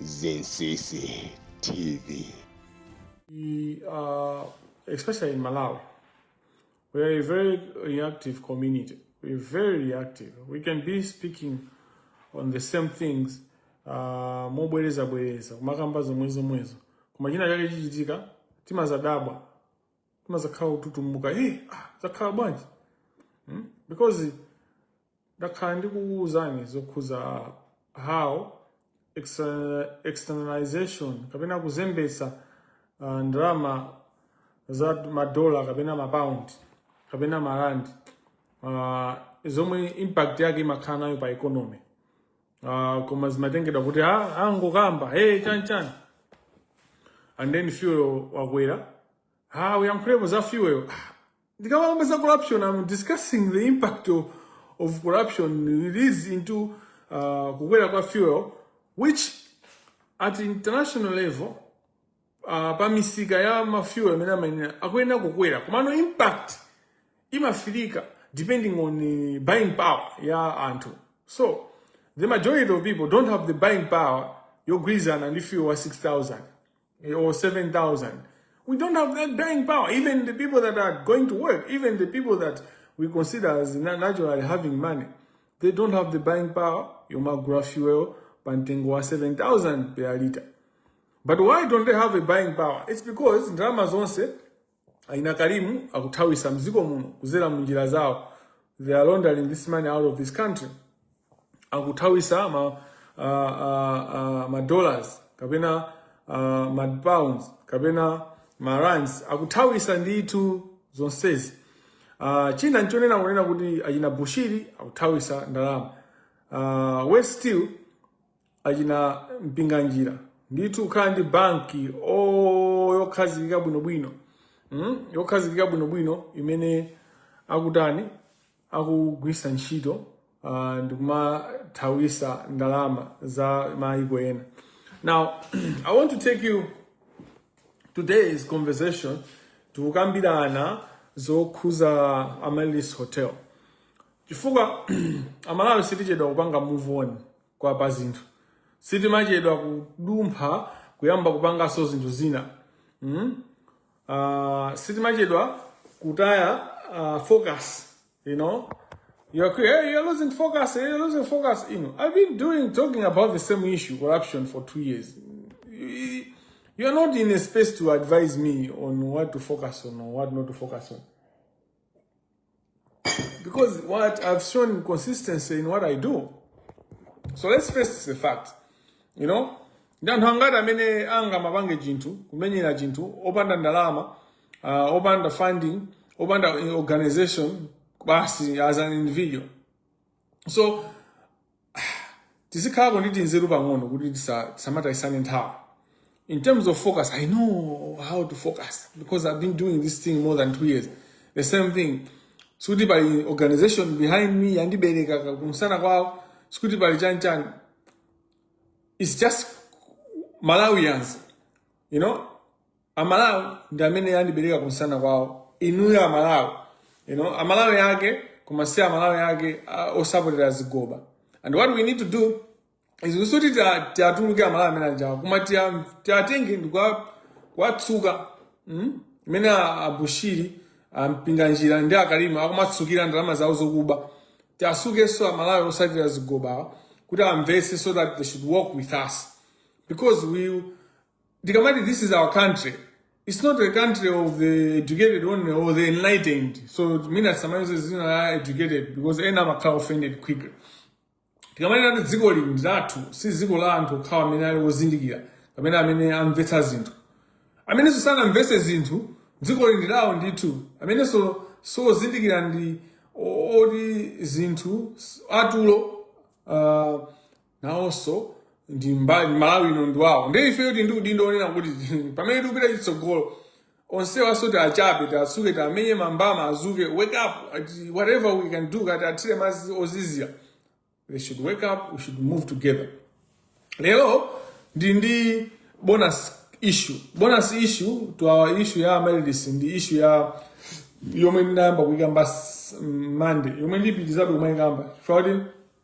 Zinsisi TV. We are, especially in Malawi, we are a very reactive community. We're very reactive. We can be speaking on the same things uh, mobwereza bwereza kumakamba zomwe zomwezo koma china chake chichitika timadzadabwa timadzakhala kututumuka eh, ah, zakhala bwanji hmm? because ndakhala ndikuwuzani zokhudza how externalization kapena kuzembetsa uh, ah, ndalama za madola kapena mapound kapena marandi uh, ah, zomwe impact yake imakhala nayo pa economy uh, koma zimatengedwa kuti ah, angokamba ah, hey, chani chani and then fuel wakwera ah, uyankhulepo za fuel ah, ndikamakamba za corruption i'm discussing the impact of, of corruption relates into uh, kukwera kwa fuel which at international level uh, pa misika ya mafuel amene amayenera akuyenera kukwera komano impact imafilidwa depending on uh, buying power ya anthu so the majority of people don't have the buying power yogwirizana ndi fuel wa 6000 eh, or 7000 we don't have that buying power even the people that are going to work even the people that we consider as na- naturally having money they don't have the buying power yomagula fuel pa mtengo wa 7000 per liter But why don't they have a buying power? It's because ndalama zonse achina Karimu akuthawisa mziko muno kudzera munjira zawo. They are laundering this money out of this country. Akuthawitsa ma uh, uh, uh, ma dollars kapena uh, ma pounds kapena ma rands akuthawitsa ndithu zonsezi. Uh, china nchonena kunena kuti achina Bushiri akuthawitsa ndalama. Uh, Worse still achina Mpinganjira ndithu kukhala ndi banki o yokhazikika bwinobwino mm? yokhazikika bwinobwino imene akutani akugwiritsa ntchito uh, ndikumathawitsa ndalama za maiko ena now i want to take you today's conversation tikukambirana zokhudza Amaryllis Hotel chifukwa aMalawi sitichedwa kupanga move on kwa pa zinthu sitimachedwa kudumpha kuyamba kupanganso zinthu zina mm? uh, sitimachedwa kutaya uh, focus you know you're, hey, you're losing focus hey, you're losing focus you know i've been doing talking about the same issue corruption for two years you're not in a space to advise me on what to focus on or what not to focus on because I've shown consistency in what I do. So let's face the fact. You know, ndi anthu angati amene angamapange chinthu kumenyera chinthu opanda ndalama uh, opanda funding opanda organization basi as an individual so tizikhalako ndi tinzeru pang'ono kuti tisa- tisamatayisane nthawi in terms of focus i know how to focus because i've been doing this thing more than two years the same thing sikuti pali organization behind me yandibereka ka- kumsana kwawo sikuti pali chanchani it's just malawians you know amalawi ndi amene andibereka kumsana kwawo inuyo amalawi you know amalawi ake koma si amalawi ake uh, osapotera zigoba and what we need to do is kuonetsetsa kuti tiatuluke amalawi amene anjawa koma tia- tiatenge ndikwa- kuwatsuka mm? mmene a- abushiri ampinganjira ndi akalima akumatsukira ndalama zawo zokuba tiatsukenso amalawi osapotera zigobawa kuti amvetse so that they should work with us because we tikamati this is our country it's not a country of the educated only or the enlightened so mwina tisamayuze zina la educated because ena amakhala offended quickly tikamati ati dziko lino ndi lathu si dziko la anthu okhawa amene ali ozindikira kapena amene amvetsa zinthu amenenso sanamvetse zinthu dziko lino ndi lawo ndithu amenenso sozindikira ndi o- oti zinthu s- atulo uh, nawonso ndi mba- ndi malawi ino ndi wawo ndiye ifeyo tili ndi udindo onena kuti pamene tikupita chitsogolo onsewanso tiachape tiatsuke tiamenye mambama adzuke wake up ati whatever we can do kuti tiathire madzi ozizira they should wake up we should move together lero ndi ndi bonus issue bonus issue to our issue ya amaryllis ndi issue yayo yomwe ndinayamba kuikamba s- Monday yomwe ndipitizabe kumaikamba chifukwa kuti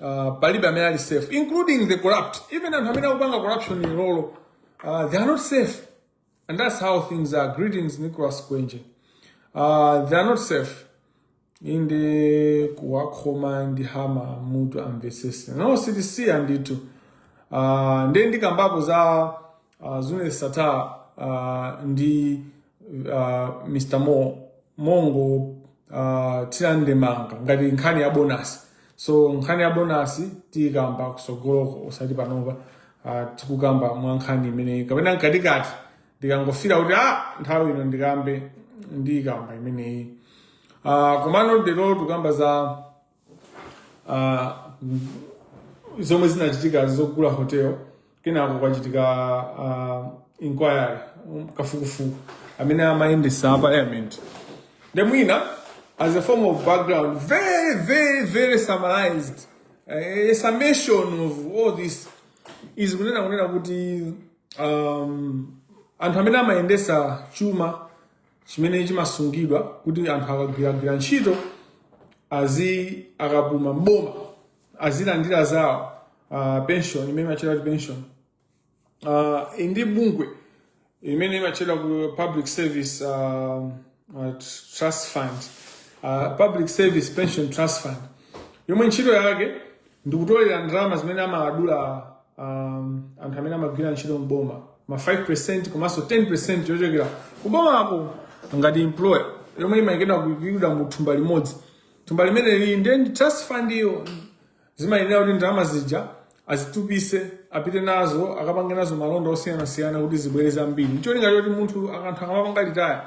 Uh, palibe amene ali safe including the corrupt even anthu amene akupanga corruption ilolo uh, they are not safe and that's how things are greetings nicholas kwenje uh, they are not safe inde kuwakhoma ndi hama mutu amvetsetse no sitisiya ndithu uh, nde ndikambapo za Uh, Zuneth Sattar uh, ndi uh, mr Mo- Mlongo uh, tiilandemanga ngati nkhani ya bonasi so nkhani ya bonasi tiyikamba kutsogoloko osati panopa uh, tikukamba mwa nkhani imeneyi kapena mkatikati ndikangofira kuti ah, nthawi ino ndikambe ndiyikamba imeneyi uh, komano lero tikukamba za uh, zomwe zinachitika zogula hotel kenako kwachitika uh, inquiry um, kafukufuku amene amayendesa a parliament nde mwina as a form of background very very very summarized uh, a summation of all this is kunena kunena kuti um, anthu amene amayendesa chuma chimene chimasungidwa kuti anthu akagwiragwira ntchito azi akapuma m'boma azilandira zawo uh, pension imene imatchedwa kuti pension uh, ndi bungwe imene imatchedwa ku public service uh, uh, trust fund uh, public service pension trust fund yomwe ntchito yake ndikutolera ndalama zimene amawadula um, anthu amene amagwira ntchito m'boma ma 5 percent komanso 10 percent yochokera kubomako ngati employer yomwe imayikidwa kuyikidwa mu thumba limodzi thumba limeneli ndi trust fund iyo zimayenera kuti ndalama zija azitupise apite nazo akapange nazo malonda osiyanasiyana kuti zibwere zambiri ncholinga choti munthu anthu akamapanga retire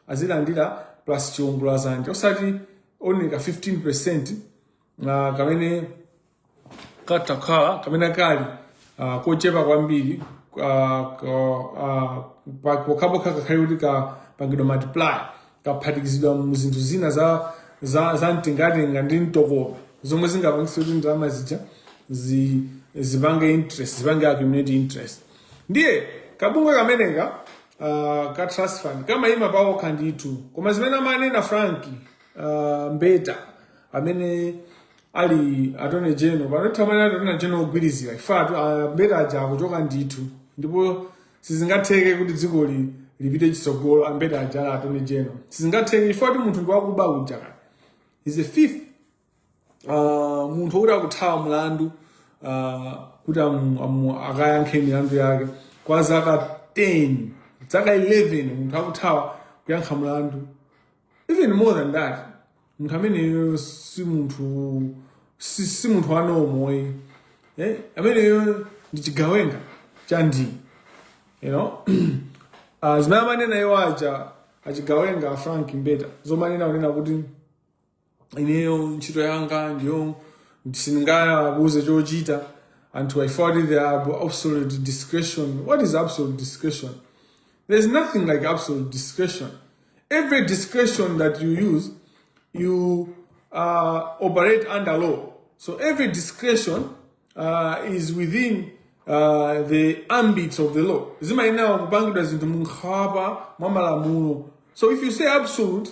azilandira plus chiwongola dzanja osati only ka 15 percent uh, kamene katakhale kamene kali ah, kochepa kwambiri ah, ko- ah, pa- pokhapokha kakhale kuti kapangidwa multiply kaphatikizidwa mu zinthu zina za za za mtengatenga ndi mtokoma zomwe zingapangitse kuti ndalama zija zi- zipange interest zipange accumulate interest ndiye kabungwe kameneka ah, ka trust fund kamayima pakokha ndithu koma zimene amanena frank ah, mbeta amene ali attorney general panthawi ino ali attorney general ogwirizira ifetu a Mbeta aja akuchoka ndithu ndipo sizingatheke kuti dziko lipite chitsogolo a Mbeta aja ali attorney general sizingatheke chifukwatu munthu ndi wakuba uja kaya he's a thief uh, munthu wokuti akuthawa mlandu uh, kuti amu- amu- akayankhe milandu yake kwa zaka 10 zaka 11 munthu akuthawa kuyankha mlandu even more than that munthu ameneyo si munthu si, si munthu wa normal eh? ameneyo ndi chigawenga cha ndi you know uh, zimene amanena iwo aja achigawenga a frank mbeta zomanena kunena kuti ineyo ntchito yanga ndiyo sindingayabuze chochita anthu i thought they have absolute discretion what is absolute discretion there's nothing like absolute discretion every discretion that you use you uh, operate under law so every discretion uh, is within uh, the ambit of the law zimayenera kupangidwa zinthu munkhwapa mwa malamulo so if you say absolute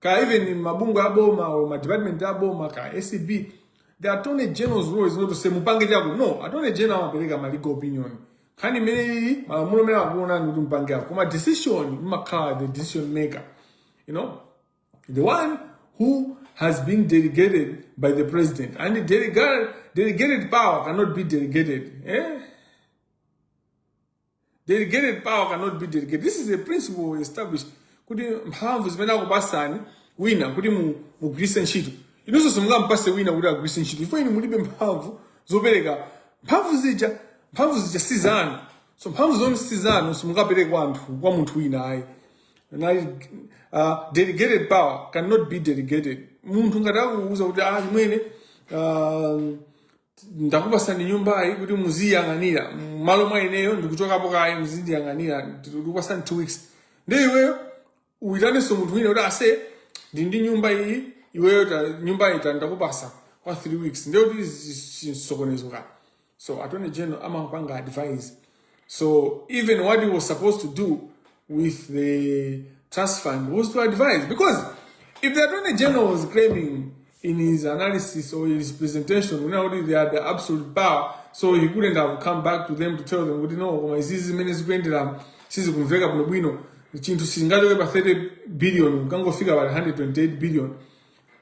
ka even mabungwe aboma or ma department aboma ka acb the attorney general's role is not to say mupange chakuti no attorney general amapereka ma legal opinion nkhani imeneyi malamulo mmene akuonera kuti mupange chakuti koma decision imakhala the decision maker you know the one who has been delegated by the president and the delegated, delegated power cannot be delegated eh? delegated power cannot be delegated this is a principle established kuti mphamvu zimene akupasani wina kuti mu- mugwiritse ntchito inunso simungampase wina kuti agwiritse ntchito chifukwa inu mulibe mphamvu zopereka mphamvu zija mphamvu zija si zanu so mphamvu zomwe si zanu simungapereke kwa anthu kwa munthu wina ayi nali uh, delegated power cannot be delegated munthu ngati akuuza kuti achimwene uh, ndakupasani nyumbayi kuti muziyang'anira malo mwa ineyo ndikuchokapo kaye muzindiyang'anira ndikupasani two weeks ndiye iweyo uyitanenso munthu wina kuti ase ndi ndi nyumba iyi iweyo ta- nyumba iyi ta- ndakupasa kwa three weeks ndiye kuti chisokonezo ka so attorney general amapanga advise So even what he was supposed to do with the trust fund was to advise. Because if the Attorney General was claiming in his analysis or his presentation, you know, they had the absolute power, so he couldn't have come back to them to tell them, you know, koma izizi zimene zikuyenderamo sizikumveka bwino bwino chinthu sizingachoke pa 30 billion kangofika pa 128 billion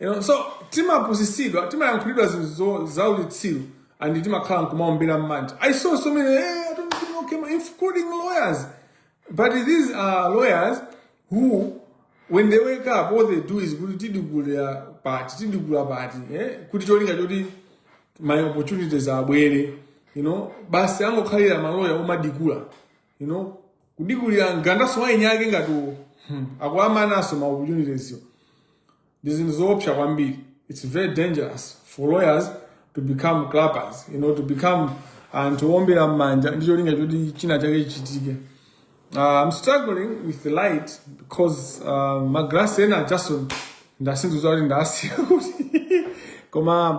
You know, so timapusisidwa timayankhulidwa zinthu zaulitsiru and timakhala nkumaombera mmanja i saw so many hey, I don't think okay, including lawyers but these are lawyers who when they wake up all they do is kuti tidikulira pati tidikula pati eh? kuti cholinga choti ma opportunities abwere you know basi angokhalira maloya omadikula you know kudikulira mgandanso waini yake ngati uwo hmm. akuamananso ma opportunities wo ndi zinthu zoopsa kwambiri it's very dangerous for lawyers to become clappers you know to become anthu owombera mmanja ndi cholinga choti china chake chichitike uh, i'm struggling with the light because uh, ma glass ena just sindidziwa kuti ndasiya kuti koma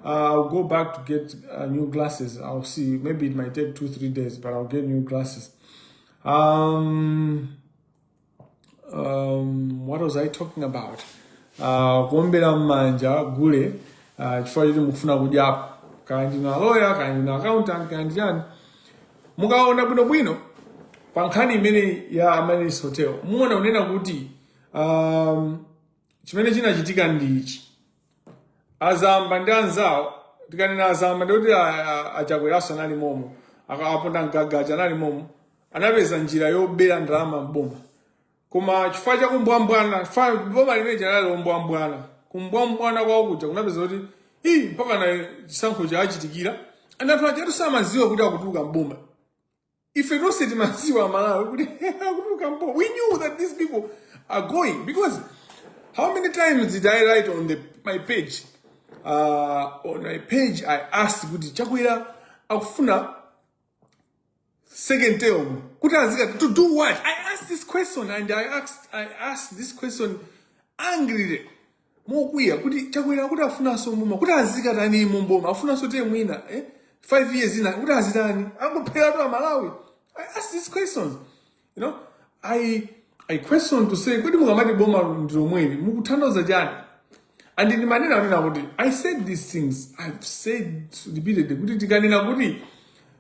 uh, i'll go back to get uh, new glasses i'll see maybe it might take two three days but i'll get new glasses um, um, what was i talking about uh, kuombera mmanja gule uh, chifukwa choti mukufuna kudyapo kaya ndinu aloya kaya ndinu accountant kaya ndi chani mukaona bwinobwino pa nkhani imene ya Amaryllis hotel muona unena kuti um, chimene chinachitika ndi ichi azamba ndi anzawo tikanena azamba ndikuti achakweraso anali momo akapondamgaga aja anali momo anapeza njira yobera ndalama mboma koma chifukwa cha kumbwambwana boma limene lija linali lombwambwana kumbwambwana kwawo kuja kunapezeka kuti ii mpaka na chisankho chachitikira anthu aja samadziwa kuti akutuluka mboma ife tonse timadziwa amalawi kuti akutuluka mpo we knew that these people are going because how many times did i write on the, my page uh, on my page i asked kuti chakwera akufuna second term kuti azika to do what i asked this question and i asked, I asked this question angrily mokwiya kuti achakwera akuti afunanso muma kuti azikatani mu mboma afunanso te mwina eh? five years ina kuti azitani angopheratu amalawi i ask these questions you know i i question to say kodi mukamati boma ndilomweli mukutanthauza chani and ndi maneno amene akuti i said these things i've said repeatedly kuti tikanena kuti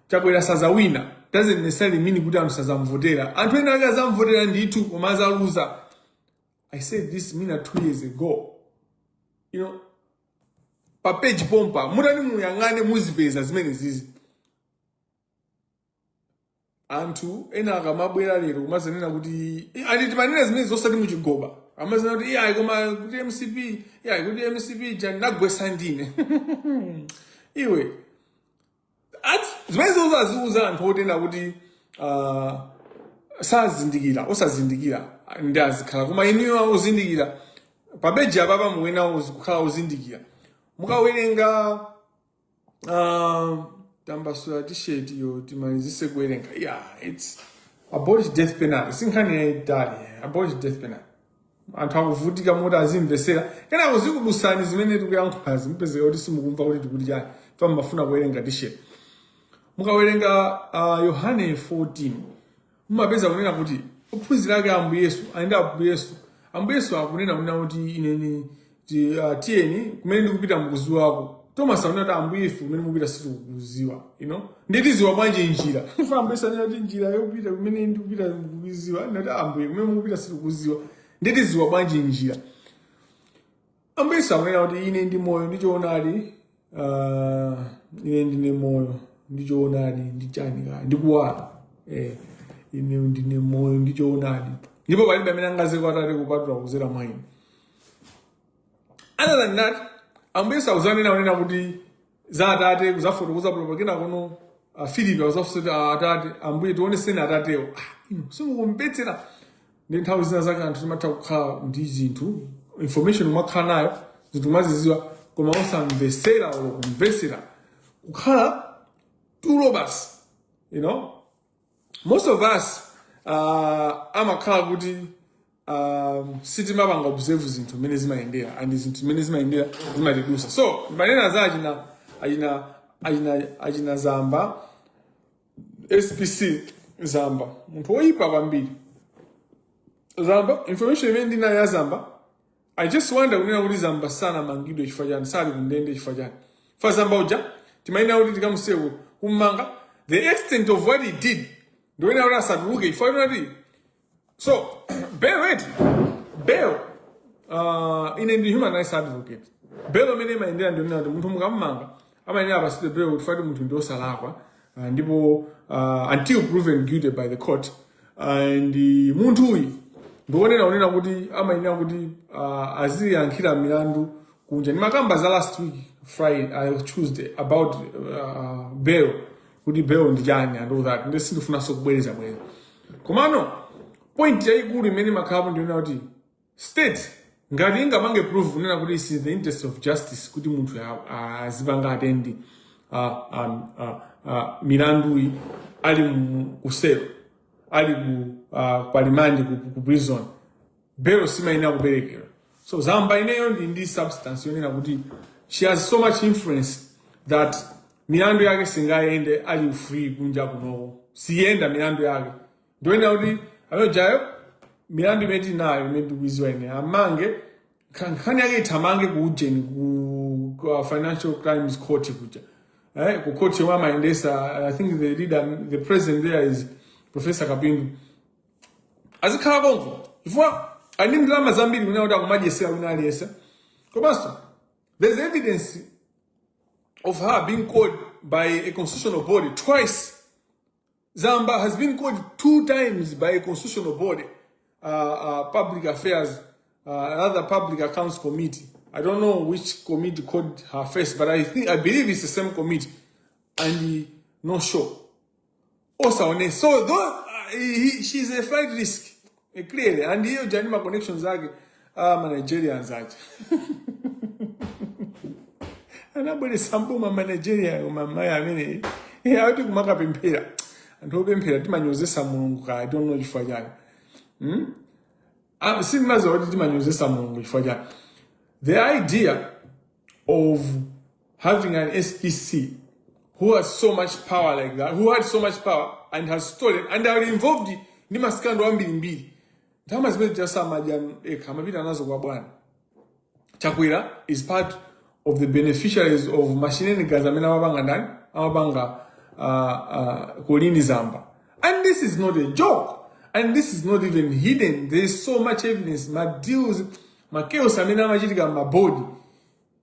achakwera sazawina doesn't necessarily mean kuti anthu sazamvotera anthu ena ake azamvotera ndithu koma azaluza I said this mina two years ago. You know, pa page pompa mutani muyang'ane muzipeza zimenezizi anthu ena akamabwera lero kumazanena kuti Eh, ati timanena zimenezo osati muchigoba amazanena kuti iyayi koma kuti mcp iyayi kuti mcp jani anagwesa ndine iwe Ati zimenezo zaziuza anthu onena kuti uh, sazindikira osazindikira ndi azikhala koma inuyo ozindikira pa page apapa muyenera ozi- kukhala ozindikira mukawerenga uh, tambasula t-shirt yo timalizise kuwerenga yeah, it's abolish death penalty si nkhani yaitali abolish death penalty anthu akuvutika mmalo moti azimvesera kenako zikudusani zimene tikuyankhulazi mupezeka kuti simukumva kuti tikuti chani fa mmafuna kuwerenga t-shirt mukawerenga uh, yohane 14 mumapeza kunena kuti ophunzira ake a ambuye yesu akuyenda ndi ambuye yesu ambuye yesu akunena kunena kuti inuni ti uh, tiyeni kumene ndikupita mukuziwako Thomas anati ambuye ife kumene mupita sitikukuziwa you know nde tiziwa bwanji njira ife ambuye yesu anena kuti njira yopita kumene ndikupita mukuziwa nde ati ambuye kumene mukupita sitikukuziwa nde tiziwa bwanji njira ambuye yesu anena kuti ine ndi moyo ndi choonadi Ah, ine ndine moyo ndi choonadi ndi chani kaya ndi kuwala eh, ine ndine moyo ndi choonadi ndipo palibe amene angaze kwa atate kupatula kuzera mwa ine other than that ambuye yesu akuzanena kunena kuti za atate kuzafotokoza pompo kenakono uh, filipi akuzafusa atate ambuye tioneseni atatewo ah, inu simukumvetsera ndi nthawi zina zake anthu timatha kukhala ndi zinthu information kumakhala nayo zinthu kumaziziwa koma osamvesera olo kumvesera kukhala tulo basi you know most of us uh, amakhala kuti um, sitimapanga observe zinthu mmene zimayendera and zinthu mmene zimayendera zimatidusa so ndimanena za achina achina achina achina zamba SPC Zamba munthu woyipa kwambiri Zamba information imene ndinayo ya Zamba I just wonder kunena kuti Zamba sanamangidwe chifukwa chani sali kundende chifukwa chani fa Zamba uja timayenera kuti tikamuseke ku- kummanga the extent of what he did ndi yonena kuti asatuluke chifukwa choti So, bail, right, bail, uh, ine ndi human rights advocate, bail mmene imayendera ndi yonena kuti munthu mukamumanga amayenera apasidwe bail chifwa ati munthu ndi osalakwa uh, ndipo uh, until proven guilty by the court and uh, munthu uyu ndi yonena kunena kuti amayenera kuti uh, aziyankhira milandu kunja ndimakamba za last week friday uh, tuesday about uh, bail kuti bail ndi chani and all that nde sindifunanso kubwereza bwereza komano point yayikulu imene imakhalapo ndi yonena kuti state ngati ingapange prove kunena kuti is in the interest of justice kuti munthu azipanga attend milanduyi ali mu selo ali ku pa remand ku prison belo simayenera kuperekedwa so zamba ineyo ndili ndi substance yonena kuti she has so much influence that milandu yake singayende ali free kunja kuno siyenda milandu yake ndikunena kuti ayojayo milandu imene tinayo imene tikuiziwa ine amange kha- nkhani yake ithamange ku ujeni ku, ku uh, financial crimes court kuja eh, ku court yomwe amayendesa i think the leader the president there is professor kapindu azikhala konko chifukwa ali ndi ndalama zambiri kunena kuti akumadyesera wina aliyense komanso there's evidence of her being called by a constitutional body twice zamba has been called two times by a constitutional body uh, uh, public affairs uh, rather public accounts committee i don't know which committee called her first but i think i believe it's the same committee and uh, no show also so though uh, he, she's a flight risk eh, clearly ndiye ujeni ma connections ake ah, ma Nigerians aja anabweresa mboma ma Nigeria aja amene eh, akuti kumakapemphera anthu opemphera timanyozesa mulungu kaya timatero chifukwa chani hmm? ah, sindimaziwa kuti timanyozesa mulungu chifukwa chani the idea of having an SPC who has so much power like that, who had so much power and has stolen and are involved ndi ma scandal ambirimbiri ndalama zimene zimabedwa ekha amapita nazo kwa bwana chakwera is part of the beneficiaries of mashenanigans amene amapanga ndani amapanga uh, uh, Colleen Zamba and this is not a joke and this is not even hidden there is so much evidence madeals ma chaos amene amachitika mabodi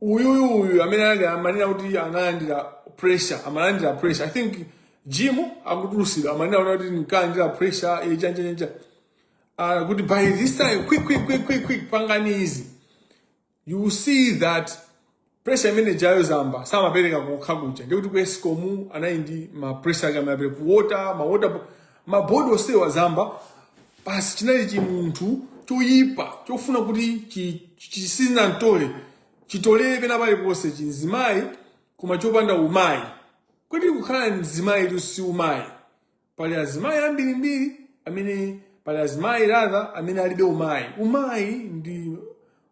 uyuyu uyu amene ali amanena kuti analandira pressure amalandira pressure i think jim akutulusidwa amanenanso kuti nkalandira pressure eh, chani chani uh, kuti by this time quick quick quick quick quick pangani izi you will see that pressure imene jayo zamba samapereka kokha kuja, ndikuti ku escom anali ndi ma pressure ake amapereka ku water ma water bo- ma board onsewa zamba basi chinali chimunthu choyipa chofuna kuti chizingotole- chitolere pena paliponse chimzimayi koma chopanda umayi kodi kukhala mzimayitu si umayi pali azimayi ambirimbiri amene pali azimayi rather amene alibe umayi umayi ndi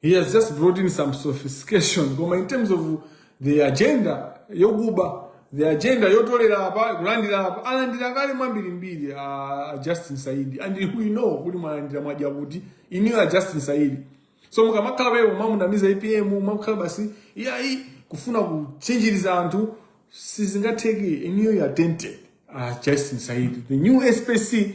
He has just brought in some sophistication koma in terms of the agenda yokuba the agenda yotolera apa kulandira apa alandira kale ambirimbiri a Justin Saidi and we know kuti mwalandira mwadya inuyo a Justin Saidi so mukamakhala pomwe mumamunamiza APM mumakhala busy iyayi kufuna kuchinjiriza anthu sizingatheke inuyo you are dented a Justin Saidi the new SPC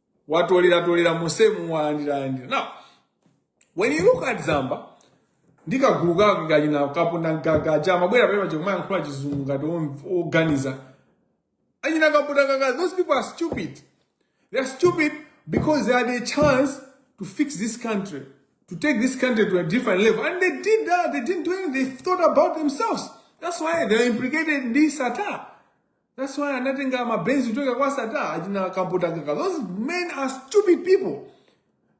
watolera tolera musemu walandira landira now when you look at zamba ndi kagulu kake ka achina Kapunda gagaja amabwera pamene paja kumayankhula chizungu ngati om- oganiza achina Kapunda gagaja those people are stupid they are stupid because they had a chance to fix this country to take this country to a different level and they did that they didn't do anything they thought about themselves that's why they're implicated in this attack That's why anatenga mabenzi kuchokera kwa Sata achina Kampotangaka. Those men are stupid people.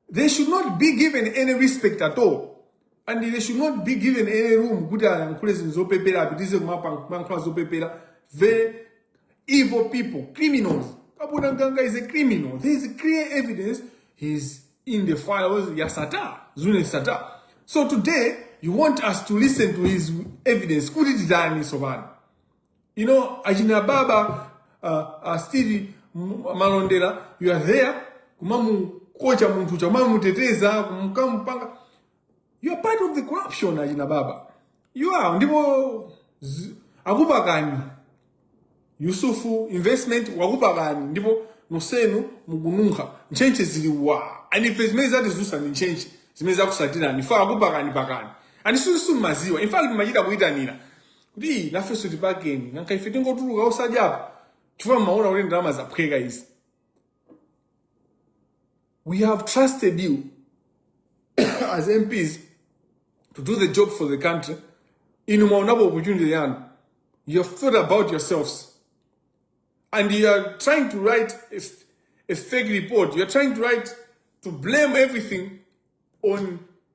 They should not be given any respect at all. And they should not be given any room kuti ayankhule zinthu zopepera apitize kumankhula zopepera. Very evil people, criminals. Kampotangaka is a criminal. There is clear evidence he's in the files ya Sata, Zune Sata. So today, you want us to listen to his evidence. Kuti titani sobani? You know, achina baba uh, uh, Steve M- Malondera, you are there kumamukocha munthu uja kumamuteteza kumkamupanga you are part of the corruption achina baba you are ndipo zi- akupakani yusufu investment wakupakani ndipo nonsenu mukununkha ntchentche zili wa and ife zimene zatidzutsa ndi ntchentche zimene zakusatirani ife akupakani pakani and inu mmaziwa in fact mmachita kuyitanira kuti "Ii, nafenso tipakeni nanka ife tingotuluka osadyapo chifukwa mmaona kuti ndalama zaphweka izi we have trusted you as mps to do the job for the country inu mwaonapo opportunity yanu you have thought about yourselves and you are trying to write a, f- a fake report you are trying to write to blame everything on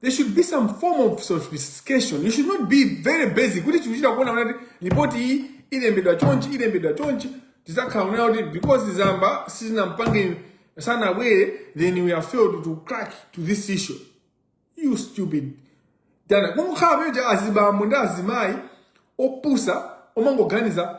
there should be some form of sophistication you should not be very basic kuti tikuchita kuona kuti lipoti iyi ilembedwa chonchi ilembedwa chonchi tizakhala kunena kuti because zamba sitinampange sanabwere then we have failed to crack this issue you stupid dana kungokhala peja azibambo ndi azimayi opusa omangoganiza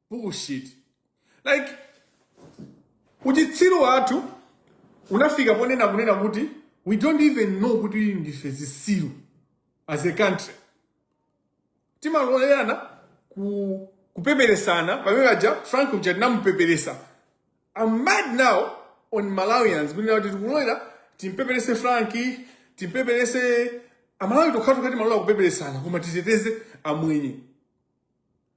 bullshit like uchitsiru wathu unafika ponena kunena kuti we don't even know kuti ndife zisiru as a country timalolerana kupeperesana pamene paja frank uja tinamupeperesa i'm mad now on malawians kunena kuti tikulolera timpeperese franki timpeperese amalawi tokhatokha timalola kupeperesana koma titeteze amwenye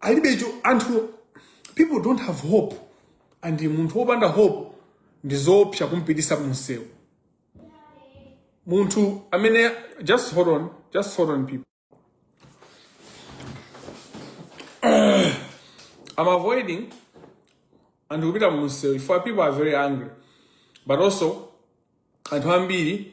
alibe cho anthu people don't have hope and munthu wopanda hope ndi zoopsa kumpitisa mumsewu munthu amene just hold on just hold on people i'm avoiding anthu kupita mumsewu chifukwa people are very angry but also anthu ambiri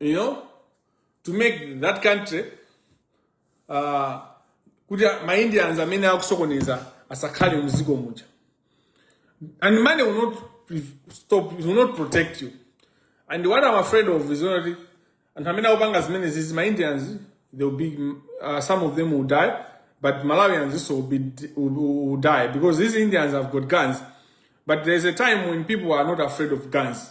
you know to make that country uh, kuti maindians amene akusokoneza asakhale mziko muja and money will not stop will not protect you and what i'm afraid of is only anthu amene akupanga zimene zizi maindians they will be uh, some of them will die but malawians also will, be, will, will die because these indians have got guns but there's a time when people are not afraid of guns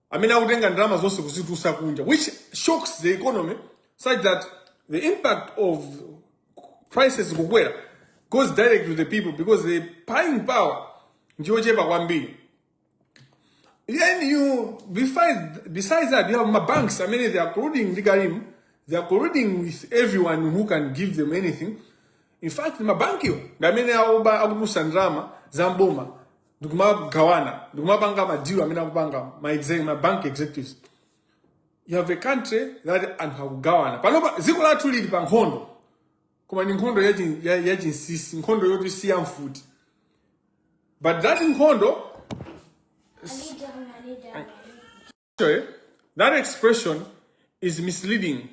amene akutenga ndalama zonse kuzitutsa kunja which shocks the economy such that the impact of prices kukwera goes direct to the people because the buying power ndiyochepa kwambiri then besides that you have mabanks amene they are colluding ndi karim they are colluding with everyone who can give them anything in fact mabankiwo ndi amene akuba akututsa ndalama za m'boma ndikumagawana ndikumapanga madilu amene akupanga ma exec- ma bank executives you have a country that anthu akugawana panopa dziko lathu lili pa nkhondo koma ndi nkhondo yachi- ya- yachinsisi nkhondo yoti siya mfuti but that nkhondo Actually, that expression is misleading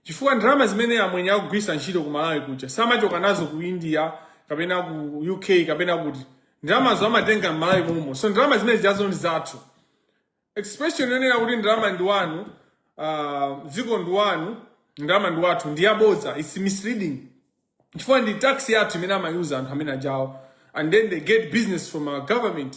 chifukwa ndalama zimene amwenye akugwiritsa ntchito ku malawi kuja samachoka nazo ku india kapena ku uk kapena kuti ndalamazo amatenga m'malawi momwe so ndalama zimene zijazo ndi zathu expression yonena kuti ndalama ndi wanu ah, dziko ndi wanu ndalama ndi wathu ndi yabodza its misleading chifukwa ndi tax yathu imene amayuza anthu amene ajawo and then they get business from our government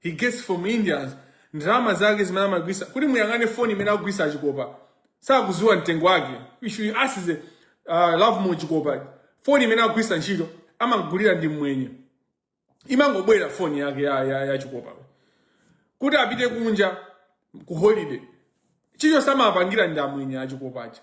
he gets from Indians ndalama zake zimene amagwisa kuti muyang'ane foni imene akugwisa achikopa sakuziwa mtengo wake ishu ask uh, lovemore chikopa foni imene akugwisa ntchito amagulira ndi mmwenye imangobwera foni yake ya, ya, ya chikopa kuti apite kunja ku holiday chichonse amapangira ndi amwenye achikopacha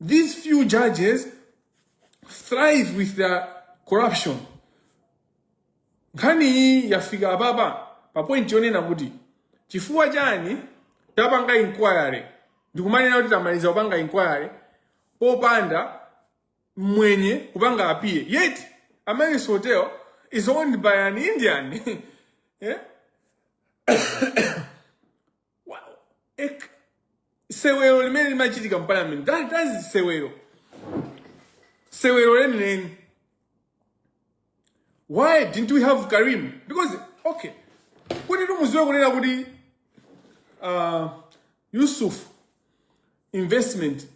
These few judges thrive with their corruption. Nkhani iyi yafika apapa pa point yonena kuti chifukwa chani tapanga inquiry ndikumanena kuti tamaliza kupanga inquiry popanda mwenye kupanga appear yet Amaryllis Hotel is owned by an Indian yeah? sewero limene limachitika mu parliament that that is sewero sewero lenileni why didn't we have karim because okay kuti timuziwe kunena kuti uh, yusuf investment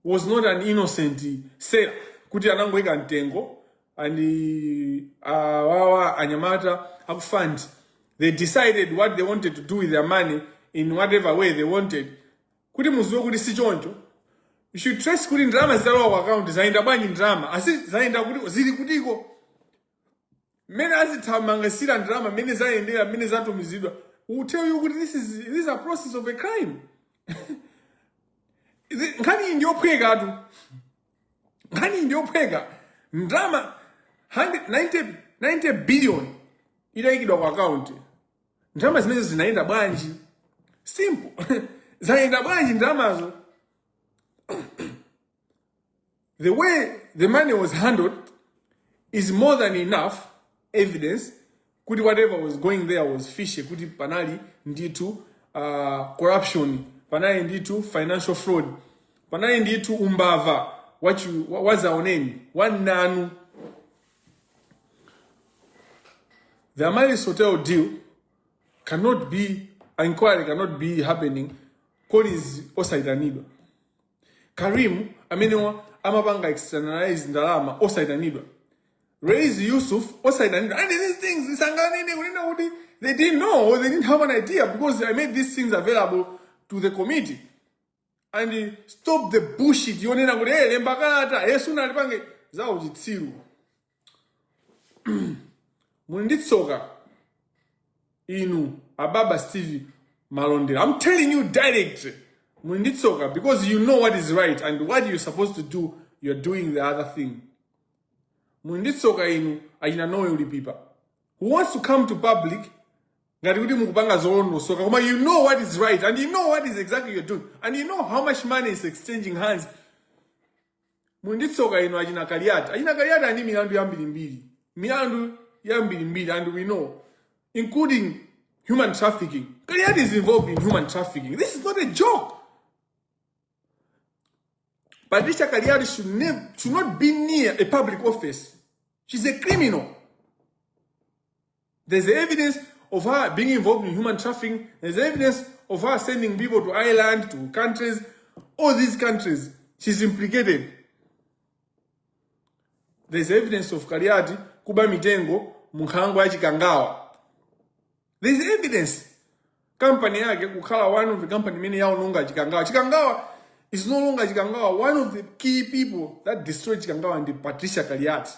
was not an innocent seller kuti anangoika mtengo ndi awawa anyamata akufund they decided what they wanted to do with their money in whatever way they wanted kuti muziwe kuti si choncho you should trace kuti ndalama zitalowa ku account zayenda bwanji ndalama asi zayenda kuti zili kutiko mmene azithamangisira ndalama mmene zayendera mmene zatumizidwa will tell you kuti this is, this is a proceeds of a crime Izi- nkhani iyi ndiyophwekatu nkhani iyi ndiyophweka ndalama 100 90 90 billion idayikidwa ku akaunti ndalama zimenezo zinayenda bwanji simple zayenda bwanji ndalamazo The way the money was handled is more than enough evidence kuti whatever was going there was fishy kuti panali ndithu uh, corruption panali ndithu financial fraud panali ndithu umbava wachi- wa- wazaoneni wananu the amaryllis hotel deal cannot be inquiry cannot be happening colleen osayitanidwa Karim amenewa amapanga externalize ndalama osayitanidwa. Raise Yusuf osayitanidwa. And these things sanganene kunena kuti they didn't know or they didn't have an idea because I made these things available to the committee. And stop the bullshit yonena kuti hey, lemba kalata hey, sunalipange zauchitsiru. muli ndi tsoka inu ababa steve malondera i'm telling you direct muli ndi tsoka because you know what is right and what you're supposed to do you're doing the other thing muli ndi tsoka inu achina noel lipipa who wants to come to public ngati kuti mukupanga zolondosoka koma you know what is right and you know what is exactly you're doing and you know how much money is exchanging hands muli ndi tsoka inu achina kaliyati achina kaliyati ali ndi milandu yambirimbiri milandu yambirimbiri and we know including human trafficking kaliyati is involved in human trafficking this is not a joke patricia kaliyati should, nev- should not be near a public office she's a criminal There's evidence of her being involved in human trafficking. There's evidence of her sending people to Ireland, to countries, all these countries. She's implicated. There's evidence of Kaliati kuba mitengo munkhango ya Chikangawa. There's evidence. Company yake kukhala one of the company imene yaononga Chikangawa. Chikangawa is no longer Chikangawa. One of the key people that destroyed Chikangawa ndi Patricia Kaliati.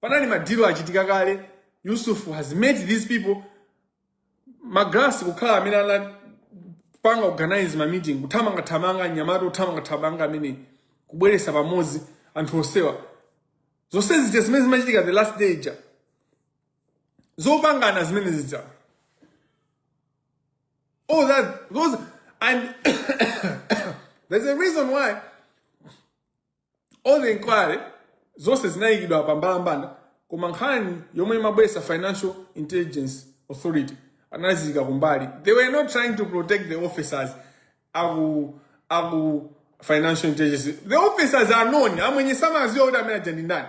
panali madilo achitika kale yusuf has met these people magalasi kukhala amene anapanga organize ma meeting kuthamangathamanga mnyamata wothamangathamanga amene kubweresa pamodzi anthu onsewa zonse zija zimene zimachitika the last day zopangana zimene zija all that those and there's a reason why all the inquiry zonse zinayikidwa pa mbalambanda koma nkhani yomwe imabwesa financial intelligence authority anaziyika kumbali they were not trying to protect the officers aku aku financial intelligence the officers are known amwenye samaziwa kuti amene aja ndi ndani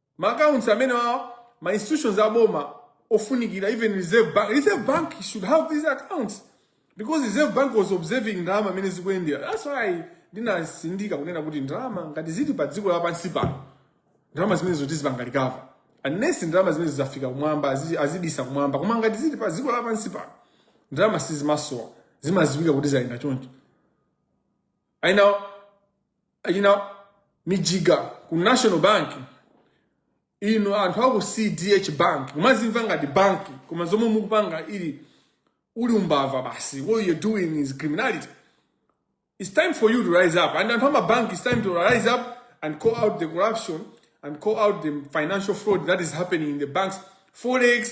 ma accounts amene a ma institutions a boma ofunikira even reserve bank reserve bank should have these accounts because reserve bank was observing ndalama mmene zikuyendera that's why ndinasindika kunena kuti ndalama ngati zili pa dziko lapansi pano ndalama zimenezo tizipanga recover unless ndalama zimenezo zafika kumwamba azi- azibisa kumwamba koma ngati zili pa dziko lapansi pano ndalama sizimasowa zimaziwika kuti zayenda choncho i know achina mijiga ku national bank ino anthu aku cdh bank kumazimva ngati banki koma zomwe mukupanga ili uli umbava basi what you're doing is criminality it's time for you to rise up and anthu amabanki it's time to rise up and call out the corruption and call out the financial fraud that is happening in the banks forex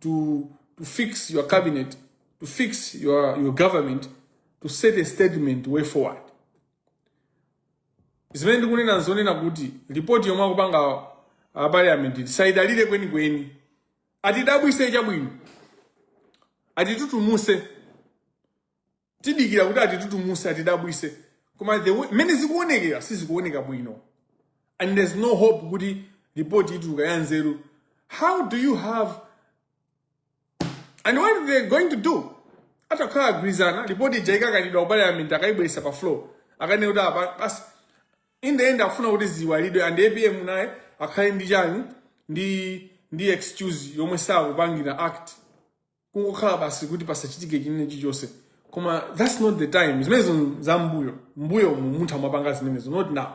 to, to fix your cabinet, to fix your, your government, to set a statement way forward. zimene ndikunena nzonena kuti ripoti yomwe akupanga aparliament sindiyidalira kwenikweni atidabwise chabwino atitutumuse tidikira kuti atitutumuse atidabwise koma the way- mmene zikuonekera sizikuoneka bwino and there's no hope kuti report ituluka ya nzeru how do you have and what are they going to do atakhala agwirizana report ija ikakanidwa ku parliament akayibweresa pa floor akanene kuti apa basi in the end afuna kuti ziwalidwe and apm naye akhale ndi chani ndi ndi excuse yomwe sakupangira act kungokhala basi kuti pasachitike chinthu chilichonse koma that's not the time zimenezo za mbuyo mbuyo mu munthu amapanga zimenezo not now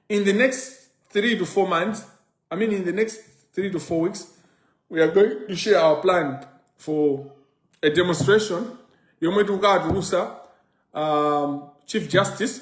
in the next three to four months i mean in the next three to four weeks we are going to share our plan for a demonstration yomwe tikatulusa um, chief justice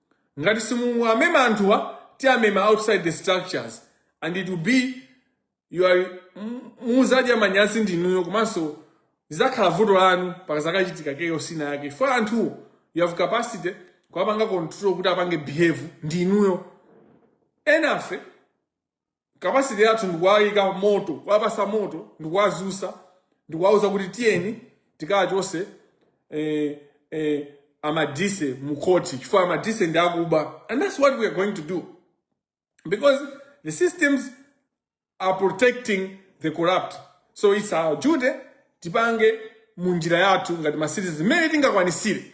Ngati simuwamema anthuwa tiamema outside the structures and it will be you are muzadya manyazi ndinuyo komanso zizakhala vuto lanu pakazakachitika chaos ina yake chifukwa anthuwo you have capacity kuwapanga control kuti apange behave ndinuyo enafe kapasiti yathu ndikuwayika moto kuwapasa moto ndikuwazusa ndikuwauza kuti tiyeni tikachose eh, eh, amadise mukhoti chifukwa amadise ndi akuba and that's what we are going to do because the systems are protecting the corrupt so it's our duty tipange munjira yathu ngati ma citizens mmene tingakwanisire